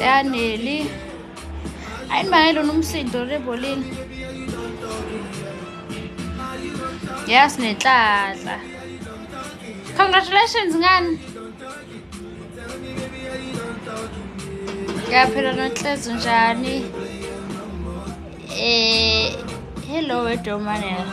yaneli ayi mane lona umsindo rebholini yes nenhlanhla congratulations ngani yaphela nonhlezo njani eh hello wedomanela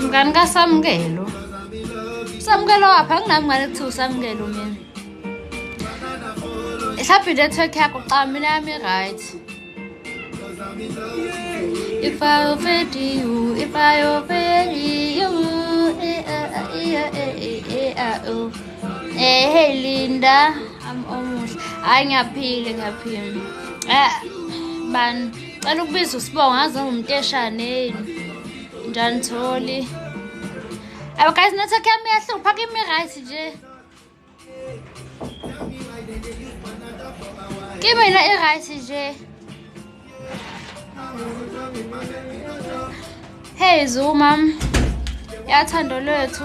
mngani kasamukelo samukelo waphi anginami ngane kuthiwa usamukelo mina mhlawumbe inetwork yakho xa mina yami right If I offend you, if I offend you, eh, eh, eh, oh. eh, hey Linda, I'm almost, ay ngiyaphila ngiyaphila, eh, bani. Cela ukubiza usibongo ngaze ngumteshane yini. Njani Tholi? Aba guys network yami iyahlupha kimi right nje. Kimi la i right nje. Hey Zuma. Yathando lwethu.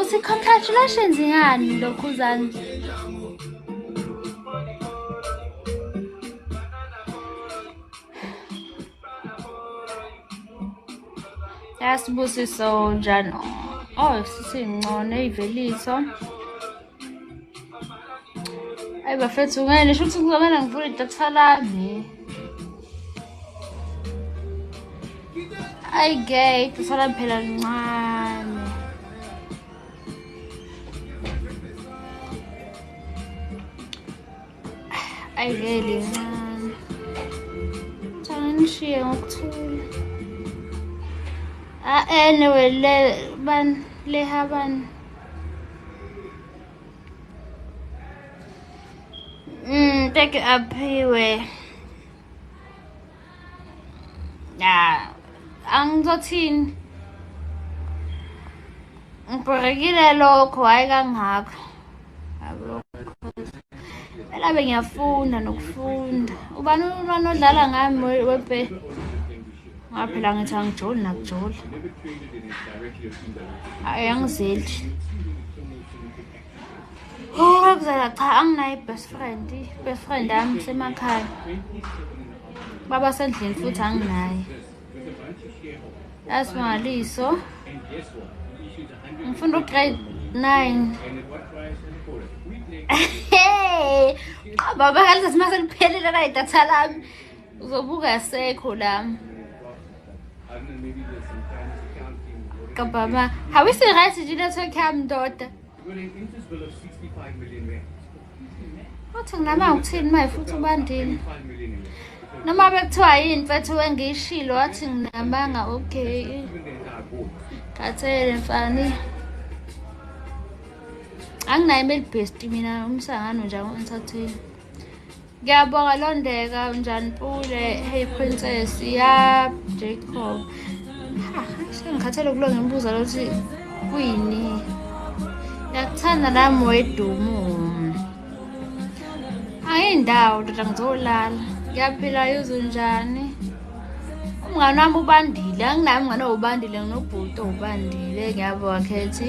uthi congratulations ngani lokhuzani yasibusiso njani oh sisincono eyiveliso ayi bafethu ngene sho ukuthi kuzomele ngivule idatha lami Ay gay, tusala phela lincane. Ay gay lincane. Ngicela nishiye ngokuthula. Ah anyway le ban le haban. Mm, take up here. ya angizothini ngibhorekile lokho hhayi kangako phela be ngiyafunda nokufunda ubani umntwana odlala ngami webe ngaphela ngithi angijoli nakujoli ayi angizeli Ngokuzela cha anginayo i-best friend. I-best friend yami semakhaya. Baba sendlini futhi anginaye. That's my Liso. Ngifunda ugrade 9. Hey! Baba kalisa simase liphelile la idatha lami. uzobuka asekho lami kababa hawisi right nje network yami ndoda uthi nginama ngithini maye futhi ubandini noma bekuthiwa yini mfethu wengiyishilo wathi nginamanga okay khathele mfani anginayo imeli best mina umsangano nje angisathengi Ngiyabonga Londeka unjani Pule hey princess ya Jacob ha sengikhathele kulo ngimbuza lokuthi kuyini yakuthanda nami wedumu ayindawo ndoda ngizolala ngiyaphila yuzu njani umngane wami ubandile anginaye umngane owubandile nginobhuti owubandile ngiyabonga khethi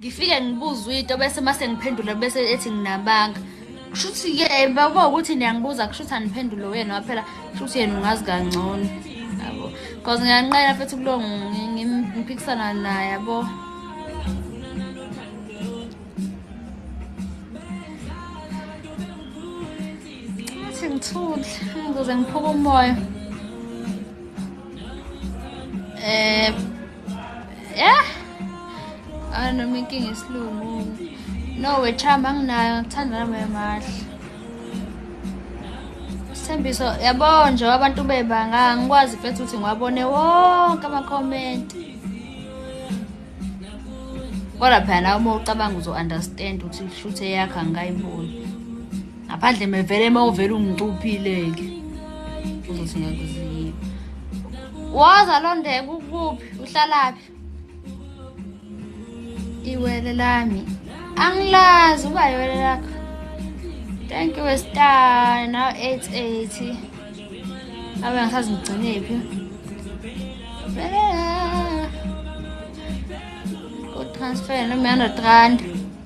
ngifike ngibuze uyinto bese uma sengiphendula bese ethi nginabanga kusho ukuthi-ke eh, bakuba ukuthi niyangibuza kusho ukuthi aniphendule wena waphela kusho ukuthi yena ungazi kangcono yabo because ngiyanqena futhi kulo ngiphikisana naye yabo athi ngithule ngizoze ngiphuke umoya um Yeah. Ah noma inkinga isilungu. No wechamba nginayo ngithanda nami emahle. Sithembiso yabo nje abantu bebanga ngikwazi mfethu ukuthi ngiwabone wonke ama comment. Kodwa phela uma ucabanga uzo understand ukuthi shuthe yakhe angikayiboni. ngaphandle mevele uma uvele ungicuphile-ke uzothi ngakuziyini woza londeka ukuphi uhlalaphi iwele lami angilazi uba iwele lakho thank you westar now 880 abe ngisazi ngigcinephi kotransfer nomihanda rand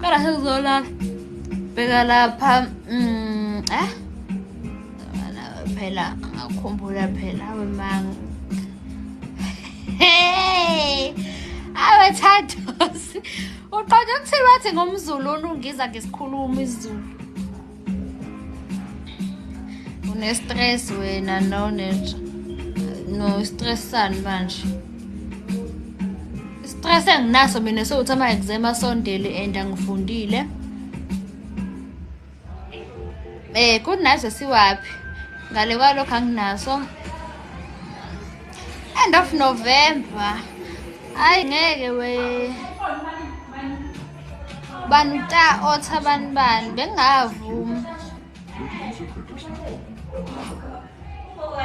Kara sekuzola bheka lapha mm eh phela ngakhumbula phela wemanga hey awethathosi uqonda ukuthi bathi ngomzulu onungiza ngesikhuluma isizulu unestress wena no no stress sani manje stress enginaso mina sewuthi ama-exam asondele and angifundile eh kunazo siwaphi ngale kwalokho anginaso end of november hayi ngeke we bani ta otha bani bani bengingavumi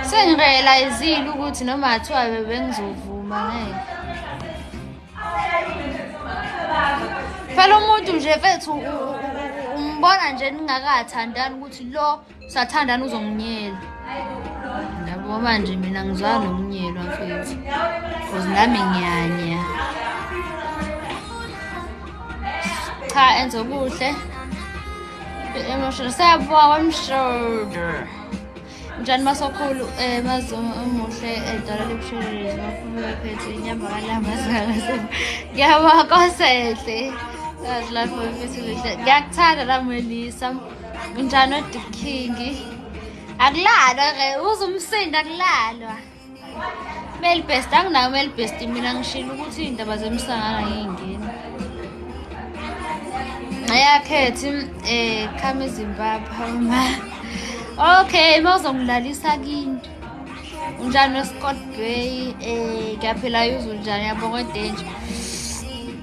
sengirealizile ukuthi noma athiwa bebengizovuma ngeke phela umuntu nje fethu umbona nje ningakathandani ukuthi lo sathandana uzonginyela yabo manje mina ngizwa nokunyelwa mfethu cause nami ngiyanya cha enza okuhle emotional siyabonga kwamshoda njani masokhulu um eh, mazomo omuhle edala libushelelezi makhulu wephethu inyama kalanga zingakase ngiyabonga kosehle azilapho mfethu lihle ngiyakuthanda lamwelisa Unjani odikhingi? Akulalwa ke, uze umsindo akulalwa. Mel best anginayo mel best mina ngishilo ukuthi indaba zemsangana yingena. Ayakhethi eh khama eZimbabwe uma. Okay, mawuzongilalisa kini. Unjani weScott Bay? Eh, ngiyaphila yuzo njani yabonga odenje.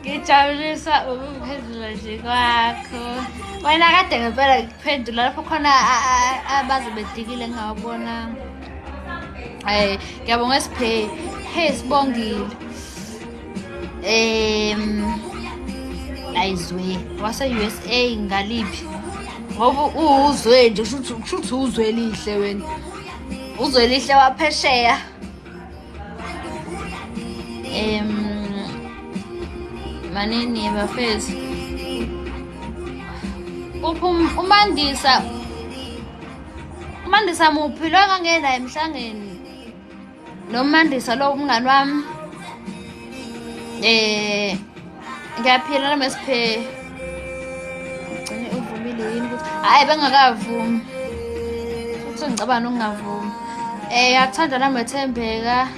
ngijabuliswa ukuphendula nje kwakho wena kade ngempela ngikuphendula lapho khona abaze bedikile ngingawabona um ngiyabonga siphe hey sibongile um ayizwe wase-u s a ngaliphi ngoba uwuzwe nje kusho ukuthi uzwe elihle wena uzwe elihle waphesheya em manini bafethu uphum umandisa umandisa muphi lo engangena emhlangeni nomandisa lo umngani wami eh ngiyaphila nami siphe ugcine uvumile yini ukuthi hhayi bengakavumi futhi ngicabana ukungavumi um eh, yakuthanda nami ethembeka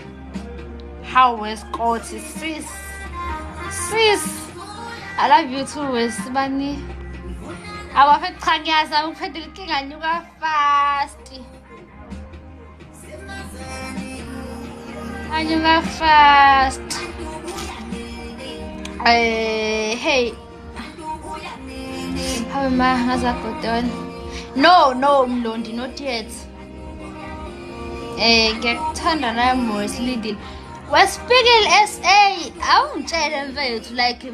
how weskoti sis sis i love you too wesibani awafekuchanyasa ukuphetha ilikinganyuka fasti Anjing fast. Eh, hey. Hawe ma ngazabhodon. No, no Mlondi not yet. Eh, ngiyakuthanda naye Morris Lidil. Wespiegel SA awungitshele mfethu like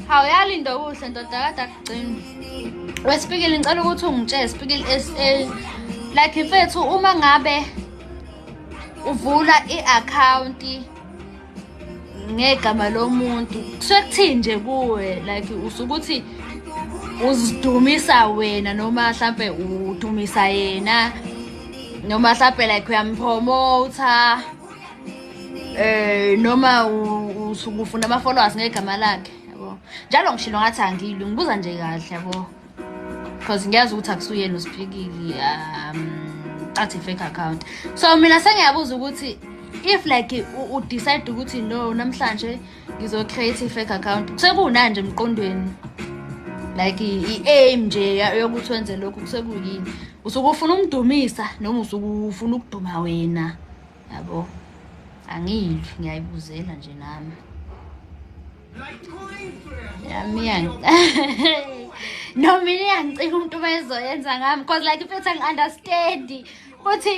hawu yalinda okuhle ndoda kade akucini wesipikili ngicela ukuthi ungitshele sipikili sa like mfethu uma ngabe uvula i-akhawunti ngegama lomuntu kusuke kuthini nje kuwe like usukuthi uzidumisa wena noma mhlampe udumisa yena noma mhlampe like uyampromotha eh noma usukufuna ama followers ngegama lakhe yabo njalo ngishilo ngathi angilwi ngibuza nje kahle yabo because ngiyazi ukuthi akusuyena usiphikile um cathi fake account so mina sengiyabuza ukuthi if like u decide ukuthi no namhlanje ngizo create fake account sekunanje emqondweni like i aim nje yokuthi wenze lokhu kusekuyini usuke ufuna umdumisa noma usuke ufuna ukuduma wena yabo angiyidli ngiyayibuzela nje nami yami no mina iyangicika umuntu ubezoyenza ngami because like if ethi angi-understandi ukuthi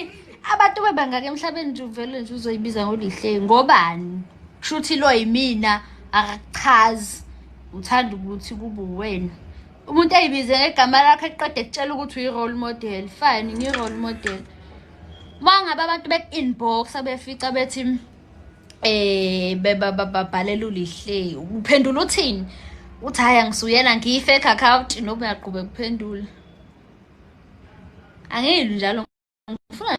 abantu bebangaka emhlabeni nje uvele nje uzoyibiza ngolihle ngobani kusho ukuthi lo yimina akakuchazi uthanda ukuthi kube uwena umuntu ayibize ngegama lakho eqeda ekutshela ukuthi uyi-role model fine ngiyi-role model mangabe abantu beku-inboxa befica bethi eh bababhalela ulihle uphendula uthini uthi hhayi angisuyena ngiyi-fake account noba uyaqhube kuphendula angiyilwi njalo ngifuna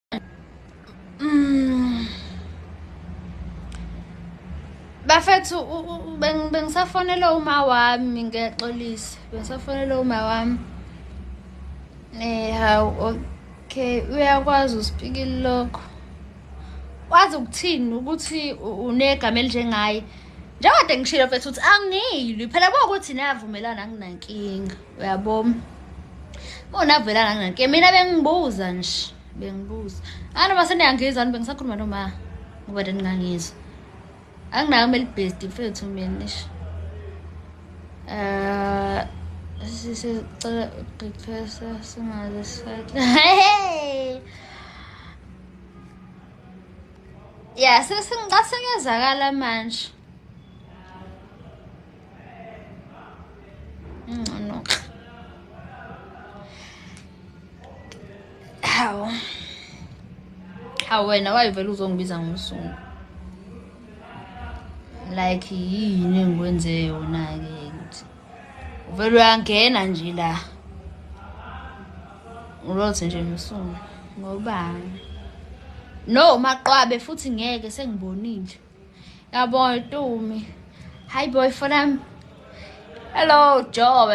Mm. Bafethu bengisafonela uma wami ngiyaxolisa bengisafonela uma wami eh hawu okay uyakwazi uspikile lokho wazi ukuthini ukuthi unegama elinjengaye njengoba ngishilo mfethu ukuthi angilwi phela kuwukuthi navumelana anginankinga uyabo unavela nanginake mina bengibuza nje bengibuza anoma seniyangizwa ni bengisakhuluma noma ngoba then ngangizwa anginayo kumele ibhesti mfethu mina nisho um sisecela uqeqesha singaze sifake ya sesingicasengezakala manje Ngcono. Hawu. Hawu wena wayivela uzongibiza ngomsungu. Like yini engikwenze yona ke ukuthi uvela uyangena nje la. Ulothi nje msungu. Ngobani? No maqwabe futhi ngeke sengibonile. Yabo Tumi. Hi boyfriend. Hello Joe.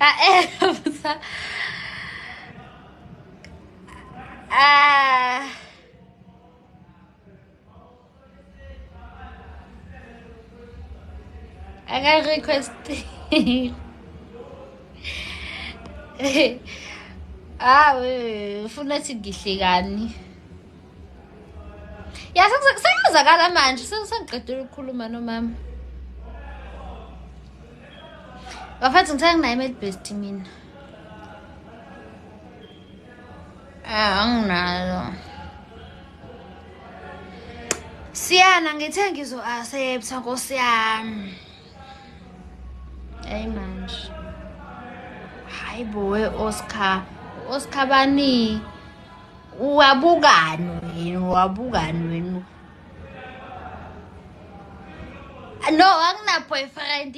I am. Ah. I got request. ah, ufuna ukuthi ngihlekani. Ya sekuzakala manje, sengiqedile ukukhuluma nomama. Bafethu ngisenginayo imeli best mina. Ah, anginalo. Siyana ngithe ngizo accept nkosi yami. Hey manje. Hayi bo we Oscar. Oscar bani? Uwabukani wena? Uwabukani wena? No, angina boyfriend.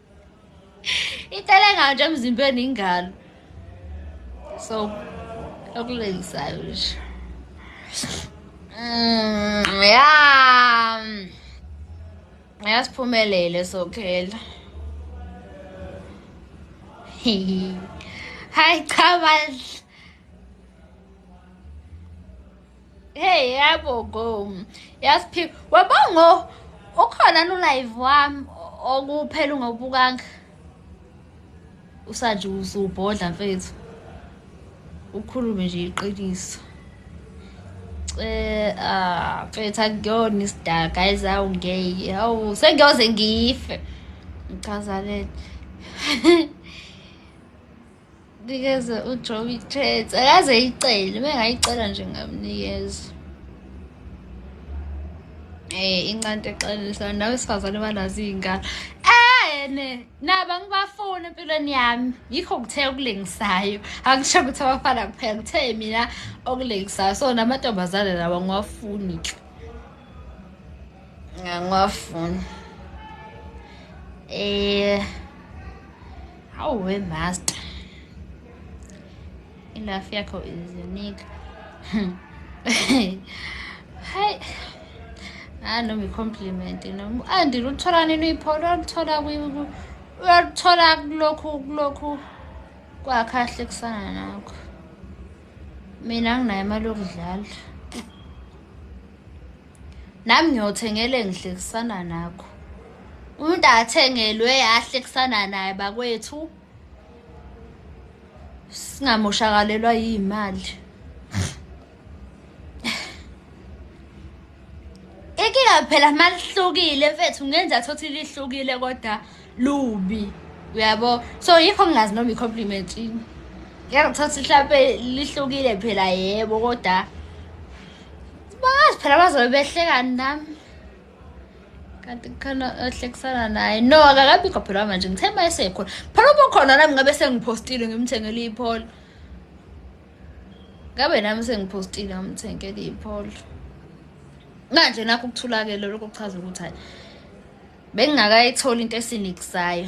Itelenga nje emzimbeni ingalo. So okulengisayo nje. Mm, yeah. Yasiphumelele sokhela. Hi cha bandla. Hey yabo go. Yasiphi. Wabongo ukhona no live wami okuphela ungabukanga. Usanje usubhodla mfethu. Ukhulume nje iqiniso. Eh ah mfethu akuyona isida guys awu ngeke. Awu sengiyoze ngife. Ngichaza lento. Nikeze uJoey Chance akaze yicele bengayicela nje ngamnikeza eh incante exelisa nawe sifazane banazo izingane ene naba ngibafuna empilweni yami yikho kuthe okulingisayo angisho ukuthi abafana kuphela kuthe mina okulingisayo so namantombazane lawa ngiwafuni ke ngiwafuni eh Hawu we master. Enough yakho is unique. Hi. Ah no me compliment no. Andi luthola nini ipholo luthola kwi uyaluthola kulokhu kulokhu kwakhe ahlekisana nakho. Mina nginayo imali yokudlala. nami ngiyothengele ngihlekisana nakho umuntu athengelwe ahlekisana naye bakwethu singamoshakalelwa yimali inkinga phela malihlukile mfethu ngenza thothi lihlukile kodwa lubi uyabo so yikho ngingazi noma i-compliment yini ngeke ngithatha mhlampe lihlukile phela yebo kodwa bazi phela bazobe behlekani nami kanti khona ohlekisana naye no akakabikho phela manje ngithe ma esekhona phela uba khona nami ngabe sengiphostile ngimthengele ipholo ngabe nami sengiphostile ngamthengele ipholo manje nakho ukuthulakele lokho kuchaza ukuthi hayi bengingakayitholi into esinikisayo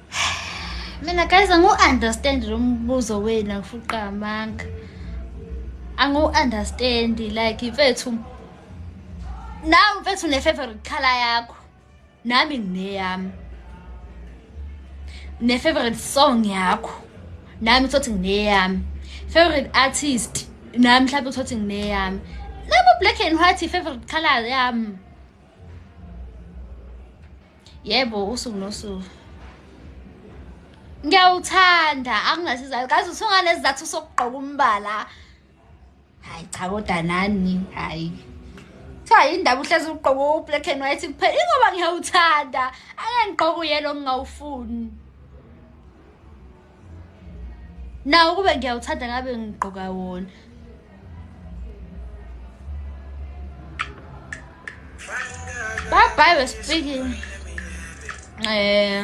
mina guys angu-understand lo mbuzo wenu akufuqa amanga angu-understand like mfethu nawe mfethu ne-favorite color yakho nami ngineyami ne-favorite song yakho nami uthothi ngineyami favorite artist nami mhlawumbe uthothi ngineyami nabo black and white i-favorite color yami yebo usuku nosuku ngiyawuthanda anginasizathu kazi usunganesizathu sokugqoka umbala hayi cha kodwa nani hayi kuthiwa yindaba uhlezi ugqoke u-black and white kuphela ingoba ngiyawuthanda angangigqoke uyelo ngingawufuni nawo kube ngiyawuthanda ngabe ngigqoka wona bye bye we're speaking eh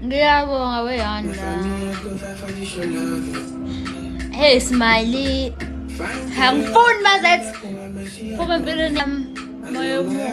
ngiyabonga weyanda hey smiley angifuni mazethi phuma empilweni yami moya omuhle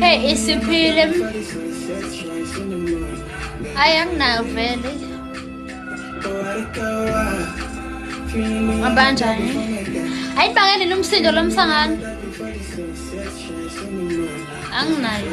Hey, isiphile. Ayanginayo vele. Abanjani? Hayi bangene nomsindo lomsangano. Anginayo.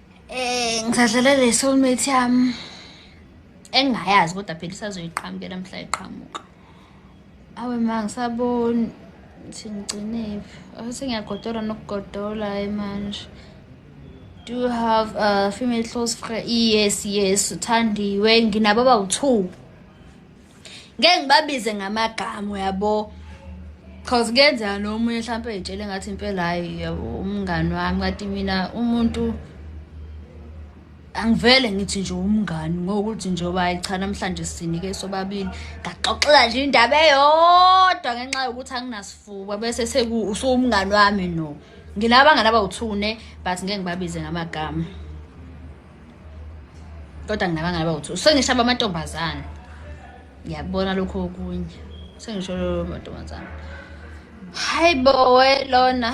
Eh ngisadlala le soulmate yami engingayazi kodwa phela isazoyiqhamukela mhla iqhamuka. Awe ma ngisaboni ukuthi ngigcinephi. Awuthi ngiyagodola nokugodola manje. Do you have a female close friend? Yes, yes, uthandiwe nginababa u-2. ngeke ngibabize ngamagama uyabo cause kuyenzeka nomunye mhlawumpe eyitshele ngathi impela hayi yabo umngani wami kanti mina umuntu angivele ngithi nje umngani ngokuthi njengoba hayi cha namhlanje sinike sobabili ngaxoxela nje indaba eyodwa ngenxa yokuthi anginasifuba bese seku usuwumngani wami no nginabangani abawuthune but ngeke ngibabize ngamagama kodwa nginabangani abawu-two sengishaba amantombazane ngiyakubona lokho okunye sengisho amantombazane hayi bowe lona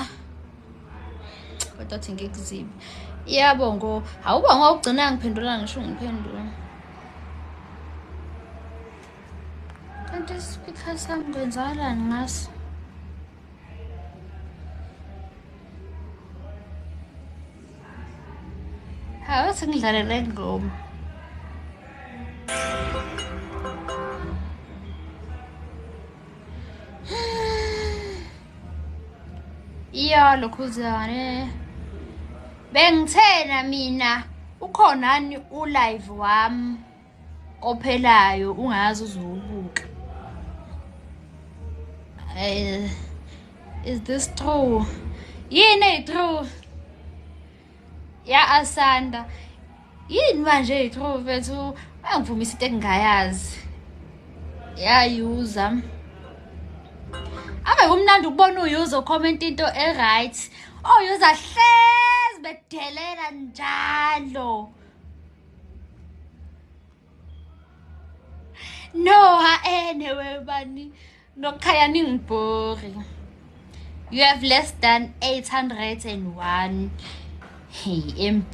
kodwa thi ngikuzibe yabo ngo awuba ngawugcina ngiphendula ngisho ngiphendula kanti isikhathi sami kwenzakalani ngaso Hawu sengidlalela ingoma. Iya lokhuzane. Bengithena mina ukhonani ulive wami. ophelayo ungazi uzowubuka uh, is this true yini eyi-true ya-asanda yini manje eyi-true mfethu angivumisa into engingayazi yayuza ave kumnandi ukubona uyuza ukhomenta into e-right oyuza hlezi bedelela njalo no haene eh, webani nokukhaya ningibhori you have less than 801 hey mb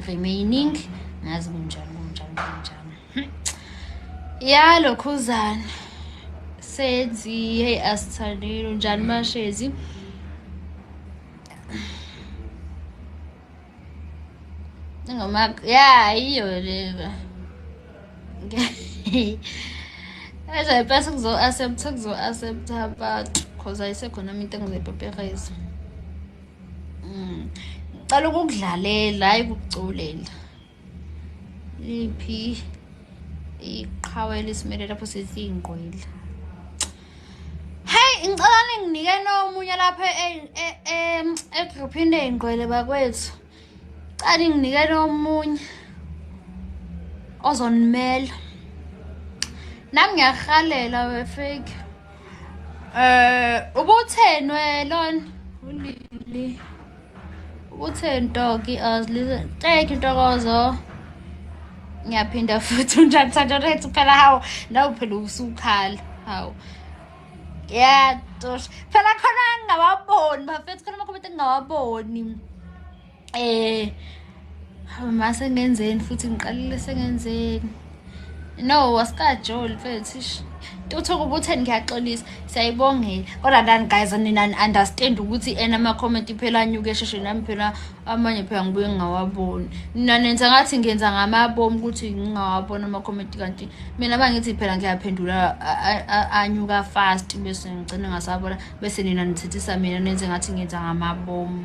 remaining ngazi kunjani kunjani kunjani hmm. ya lokhuzana senzi hey asithandile unjani mashezi Ngoma ya iyo leba. As I pass kuzo accept kuzo accept but cause ayisekhona into engizoyipaperisa. Mm. Cala ukudlalela hayi ukuculela. liphi iqhawe elisimele lapho sithi ingqwila heyi ngicela ninginike nomunye lapha egruphini ley'ngqwele bakwethu cela ninginike nomunye ozonimela nami ngiyahalela wefake um eh, ubutheni welona ulili Uthe ntoki azlize thank you ntokozo ngiyaphinda futhi unjani santorethi phela hawu nawe phela usukhala hawu yatosh phela khona ngingawaboni bafethu khona amakhomenti engingawaboni um eh, hawu ma sengenzeni futhi ngiqalile sengenzeni no wasikajoli mfethu ish tuthuka ubutheni ngiyaxolisa siyayibongela kodwa ndani guys nina understand ukuthi ena ama-comment phela anyuke esheshe nami phela amanye phela ngibuye ngingawaboni nina nenza ngathi ngenza ngamabomu ukuthi ngingawaboni ama-comment kanti mina uma ngithi phela ngiyaphendula anyuka fast bese ngigcine ngasabona bese nina nithethisa mina nenze ngathi ngenza ngamabomu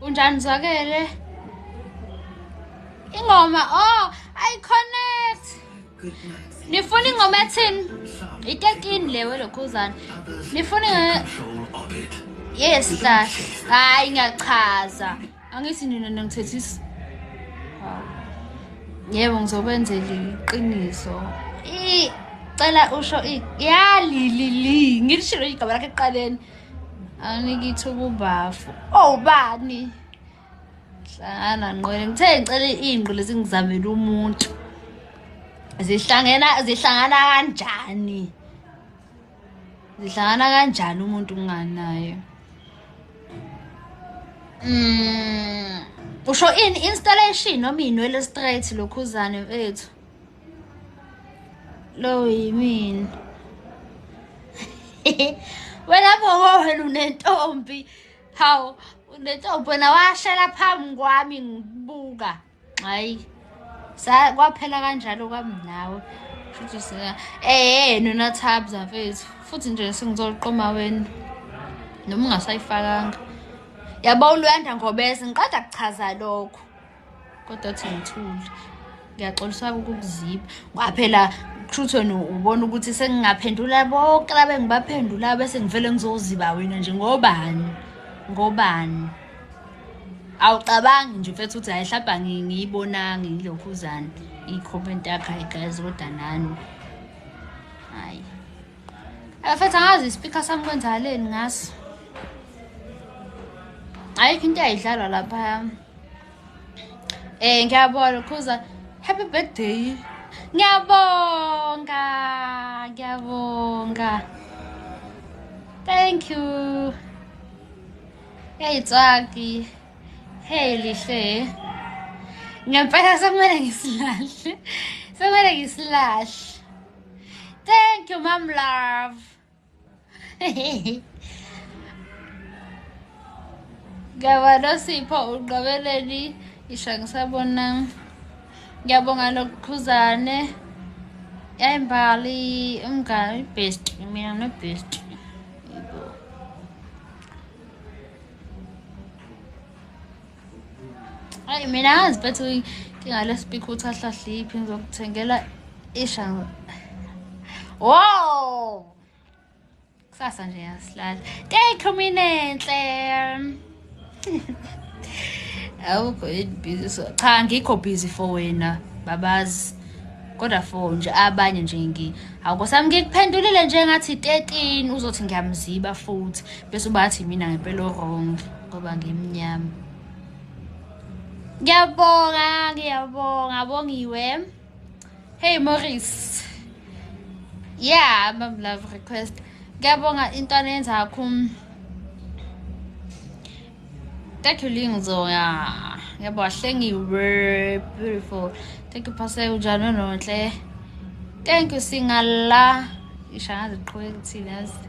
Unjani Zwakele? Ingoma oh I connect. Nifuna ingoma ethini? Itekini lewe lokhuzana. Nifuna Yes la. Hayi ngiyachaza. Angithi nina nangithethisa. Yebo ngizokwenzela iqiniso. I cela usho i yalilili ngilishilo igaba lakhe eqaleni. anginika ithuba ubafu oh bani hlangana nqwele ngithe ngicela ingqo lezi ngizamela umuntu zihlangena zihlangana kanjani zihlangana kanjani umuntu unganayo mm usho in installation noma inwele straight lokhuzane mfethu lowo yimina wena boko wena unentombi hawu unentombi wena washela phambi kwami ngibuka hayi kwaphela kanjalo kwami nawe futhi sina eh nona tabs afethu futhi nje sengizoqoma wena noma ungasayifakanga yabo uluyanda ngobese ngiqeda kuchaza lokho kodwa thi ngithule ngiyaxoliswa ukukuziba ngoba phela truthon ubona ukuthi sengingaphendula bonke laba engibaphendulayo bese ngivele ngizoziba wena nje ngobani ngobani awucabangi nje mfethu ukuthi hayi hlabha ngiyibonangi ngilokhuzana i-comment yakho hayi guys kodwa nani hayi mfethu angazi ispeaker sami kwenzakaleni ngaso ayikho into ayidlalwa lapha Eh ngiyabona khuza happy birthday. Ngiyabonga, ngiyabonga. Thank you. Hey Tswaki. Hey Lihle. Ngempela sekumele ngisilahle. Sekumele ngisilahle. Thank you, Mom Love. ngiyabona sipho uqabeleni isha ngisabona ngiyabonga lokukhuzane yayimbali umngani best mina no best ayi mina angazi bethi inkinga lespeak ukuthi ahlahliphi ngizokuthengela isha wo kusasa nje yasilala teyiqhuminenhle awukho yini busy so cha ngikho busy for wena babazi kodwa for nje abanye nje ngi awukosami ngikuphendulile nje ngathi 13 uzothi ngiyamziba futhi bese ubathi mina ngempela wrong ngoba ngimnyama ngiyabonga ngiyabonga bongiwe hey morris yeah mam love request ngiyabonga into anenzakho thank you lingizoya ngiyabonga hlengiwe beautiful thank you pastor unjani nonhle thank you singala ishangaze qhubeka kuthina yazi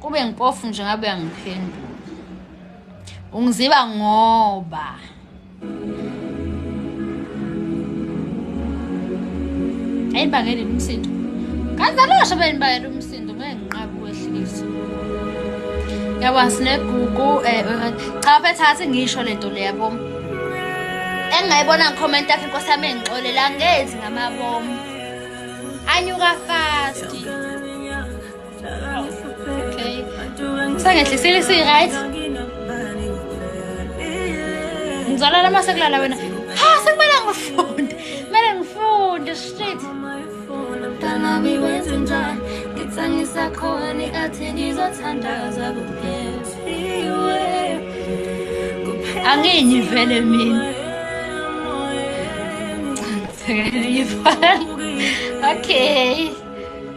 kube ngipofu nje ngabe uyangiphendula ungiziba ngoba ayi bangele umsindo kazalosho beni bangele umsindo ngeke nginqabe ukwehlisa yabo asinegugu um eh, eh, cha bethathe ngisho le nto leyabo engingayibona ngikhomenti yakhe inkosi yami engixolela ngezi ngamabomu anyuka fasti Okay. Sangehle sile si right. Ngizalala uma sekulala wena. Ha sekumele ngifunde. Kumele ngifunde shit. Mntana biwenze njani? Ngitsangisa khona athi ngizothandaza kuphethiwe. Angenyi vele mina. Ngifana. Okay.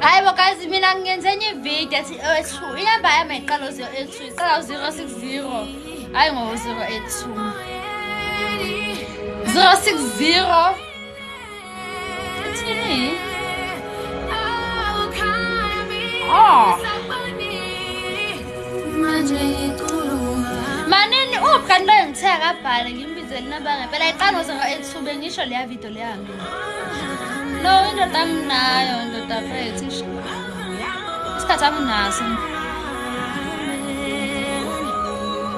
hayi bo guys mina ngenze enye ivideo ethi o-two oh, inamba yami ayiqala u-zero eight two iqala u-zero six zero hayi ngo-zero eight two zero six zero Oh. Manini uphi kanti loyo ngithe akabhale ngimbizele inamba ngempela ayiqala ngoze ngo-etube ngisho leya video leyange no indoda anginayo indoda fethu isikhathi anginaso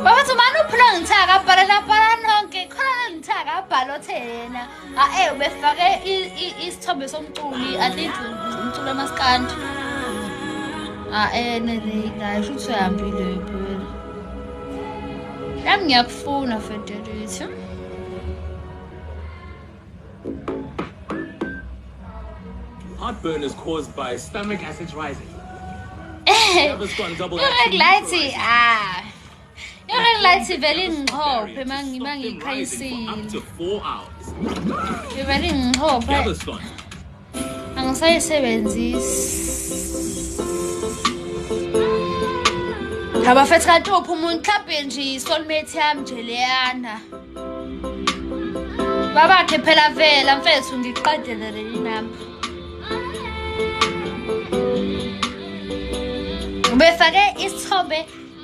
babathi umane uphula ngithe akabhale labhala nonke khona ngithe akabhale othe yena Ae ah, ubefake isithombe somculi I think umculi amaskandi. Ae ah, ne ne guys shuthi uyahambile phela. Yami ngiyakufuna Federate. Heartburn is caused by stomach acids rising. Never gone double. Look like Lighty. Ah. Your ring light ivele ingixhophe mangiba ngikhayisile. Ivele ingixhophe. Angisayisebenzisi. Abafethu kanti uphi umuntu mhlawumbe nje isoulmate yami nje leyana. Babakhe phela vela mfethu ngiqedele leli nami. Ubefake isithombe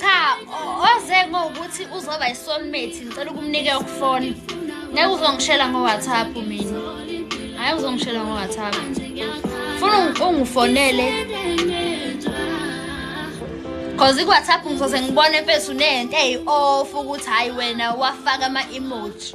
cha oze ngokuthi uzoba isoulmate ngicela ukumnike ukufona ngeke uzongishela ngowhatsapp mina hayi uzongishela ngowhatsapp funa ungifonele cause iwhatsapp ngizoze ngibone mfethu nento eyi-off ukuthi hhayi wena wafaka ama-emoji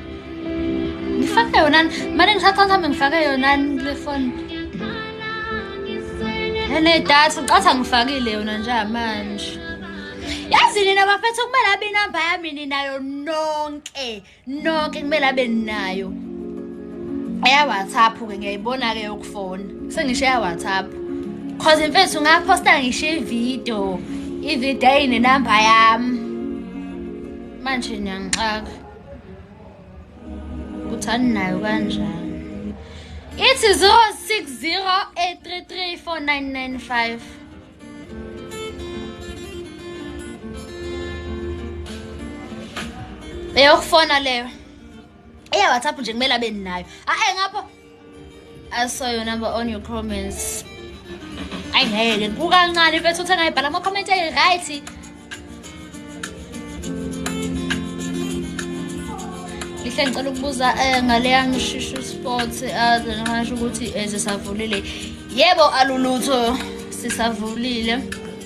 ngifake yona mane ngithatha ngihambe ngifake yona kule foni enedatha ngicatha ngifakile yona njengamanje yazi nina bafethu kumele abe inamba yami ninayo nonke nonke kumele abe ninayo eyawhatsapp ke ngiyayibona-ke yokufona sengisho eyawhatsapp cause mfethu ngaphosta ngisho ividiyo ividiyo ayinenamba yami manje niyangixaka kuthani nayo kanjani ithi 0608334995 eyokufona leyo eya whatsapp nje kumele abe ninayo a-e ngapho I saw your number on your comments. Ayi ngeke kukancane mfethu uthe ngayibhala ama comment ayi right. Lihle ngicela ukubuza eh, ngaleya ngishushu sport aze eh, ngasho ukuthi ezisavulile. Eh, Yebo alulutho sisavulile.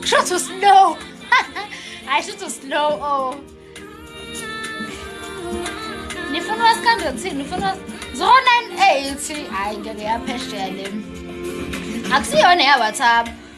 Kusho ukuthi uslow. Hayi shuthi uslow oh. Nifuna wasikhandwe kuthini? Nifuna 098 hayi ngeke yaphesheya le. Akusiyona ya WhatsApp.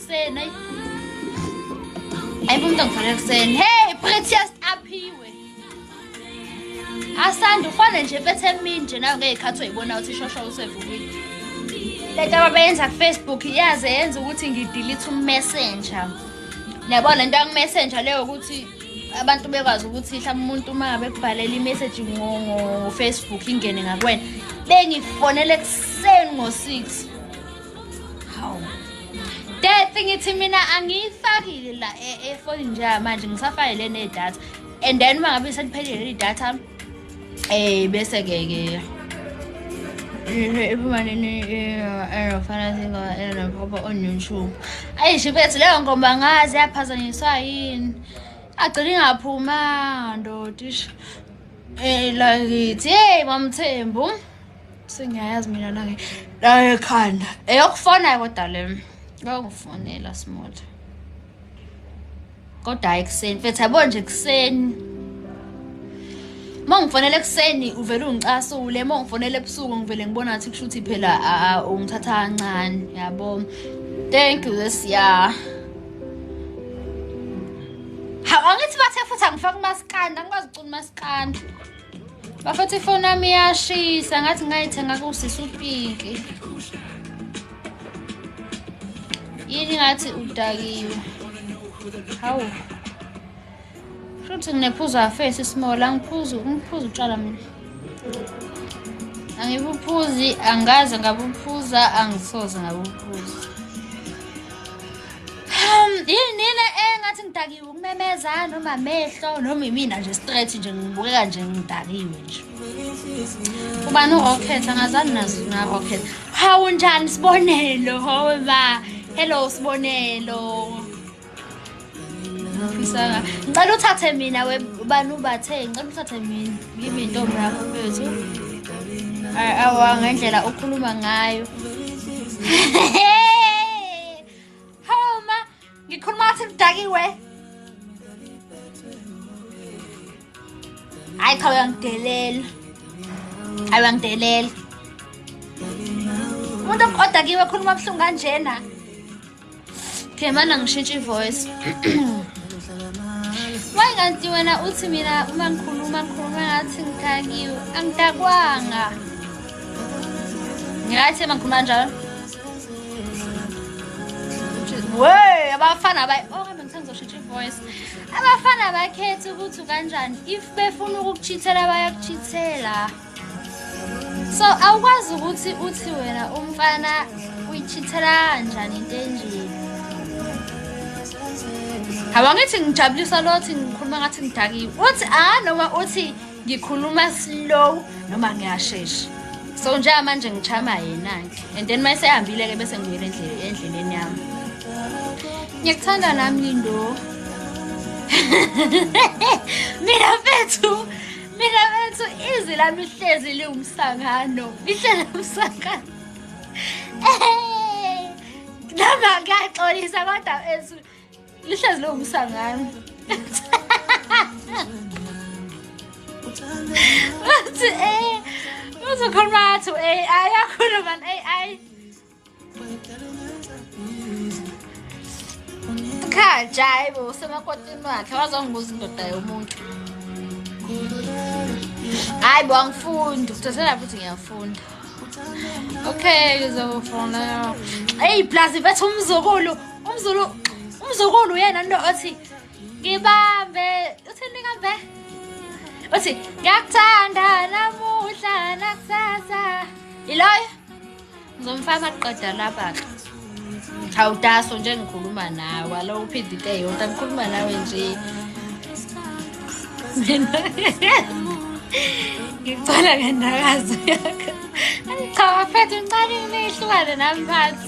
Sen ay. Ay bunta ngifana kusen. Hey, Precious aphiwe. Asanda ufane nje bethe mini nje nayo ngeyikhathi uyibona ukuthi ishosha usevukile. Lento abayenza ku Facebook yaze yenza ukuthi ngidelete u messenger. Yabona lento aku messenger leyo ukuthi abantu bekwazi ukuthi mhlawumbe umuntu uma ngabe kubhalela imessage ngo-facebook ingene ngakwena bengifonele ekuseni ngo-six Dethi ngithi mina angiyifakile la e, efoni nje manje ngisafake le nedatha and then uma ngabe seliphelile leli datha eh bese ke ke iphuma nini erofana singo erophopho on youtube ayi shibethu leyo ngomba ngazi yaphazanyiswa yini agcina ingaphumanga ndotisha um lakithi yeyi mamthembu sengiyayazi mina nange nayo ekhanda eyokufonayo kodwa le yokufonela small kodwa hayi ekuseni mfethu yabo nje ekuseni uma ngifonela ekuseni uvele ungicasule uma ngifonela ebusuku ngivele ngibona ngathi kusho ukuthi phela ungithatha kancane yabo thank you this year hawu angithi bathe futhi angifake umasikandi angikwazi ukucula umasikandi bafethu ifoni yami iyashisa ngathi ngayithenga kusisi upinki yini ngathi udakiwe hawu shuthi nginephuzo afesi isimola ngiphuzu ngiphuza utshwala mina angibuphuzi angaze ngabuphuza angisoze ngabuphuza yini le engathi ngidakiwe ukumemeza noma amehlo noma imina nje straight nje ngibukeka nje ngidakiwe nje ubani urocket angazani nazo narocket hawu njani sibonelo hawe ba hello sibonelo ngifisa ngicela uthathe mina we ubani ubathe ngicela uthathe mina ngimi intombi yakho mfethu Ay, awa ngendlela okhuluma ngayo Ngikhuluma ngathi ngidakiwe. Hayi cha uyangidelela. Hayi uyangidelela. Umuntu odakiwe khuluma ubuhlungu kanjena. Okay, mana ngishintshe ivoice. Why kanti wena uthi mina uma ngikhuluma ngikhuluma ngathi ngidakiwe. Angidakwanga. Ngiyathi uma ngikhuluma njalo. Wey, abafana abayi oh kambe ngithanda uzoshitsha ivoice. Abafana abakhethi ukuthi kanjani if befuna ukukuchithela bayakuchithela. So awukwazi ukuthi uthi wena umfana uyichithela kanjani into enje. Habangithi ngijabulisa lothi ngikhuluma ngathi ngidakiwe. Uthi ah noma uthi ngikhuluma slow noma ngiyashesha so njengamanje ngichama yena-ke and then uma esehambile-ke bese ngibuyela endleleni yami ngiyakuthanda nami lindo mina bethu mina bethu izwi lami lihlezi liwumsangano lihlezi umsangano noma kuyaxolisa kodwa bethu lihlezi lobusa ngami wathi eh uzokhuluma athi eh ayakhuluma eh ay cha jayi bo usemakotini wakhe wazongibuza indoda yomuntu hayi bo angifundi kuthathela futhi ngiyafunda okay ngizofona eyi plus betha umzukulu umzulu umzukulu uyena nto othi ngibambe uthini kambe uthi ngiyakuthanda namuhla nakusasa yiloyo ngizomfaka qeda lapha-ke awutaso nje ngikhuluma nawe alo uphinde into eyodwa ngikhuluma nawe nje mina ngicela ngendakazo yakho angichawafethu ngicane ngineyihlukane nami phansi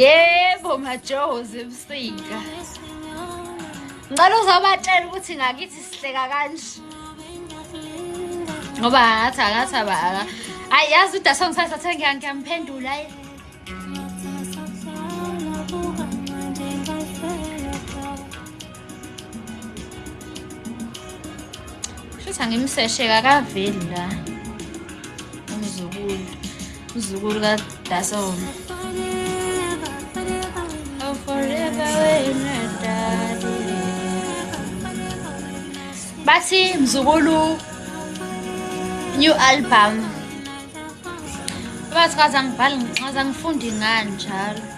yebo majoho zebusika ngicela uzobatshela ukuthi ngakithi sihleka kanje ngoba ngathi akathi aba ayi yazi uda songisathathe ngiyamphendula ayi Shuthi angimseshe kakaveli la. Umzukulu. Umzukulu ka Dason. Oh forever when I die. Bathi mzukulu new album. Bathi kaze angibhali ngichaza ngifundi ngani njalo.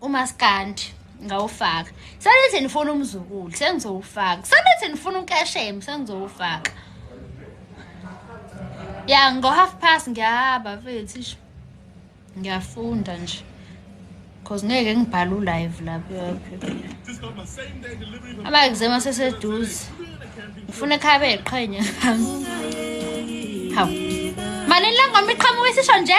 umaskandi ngawufaka sanithi nifuna umzukulu sengizowufaka sanithi nifuna unkeshemu sengizowufaka ya ngo-half past ngiyahamba mfethu isho ngiyafunda nje because ngeke ngibhale ulive lapho ama-exam aseseduze ngifuna ekhaya beyiqhenya hawu malini langoma iqhamuka isisho nje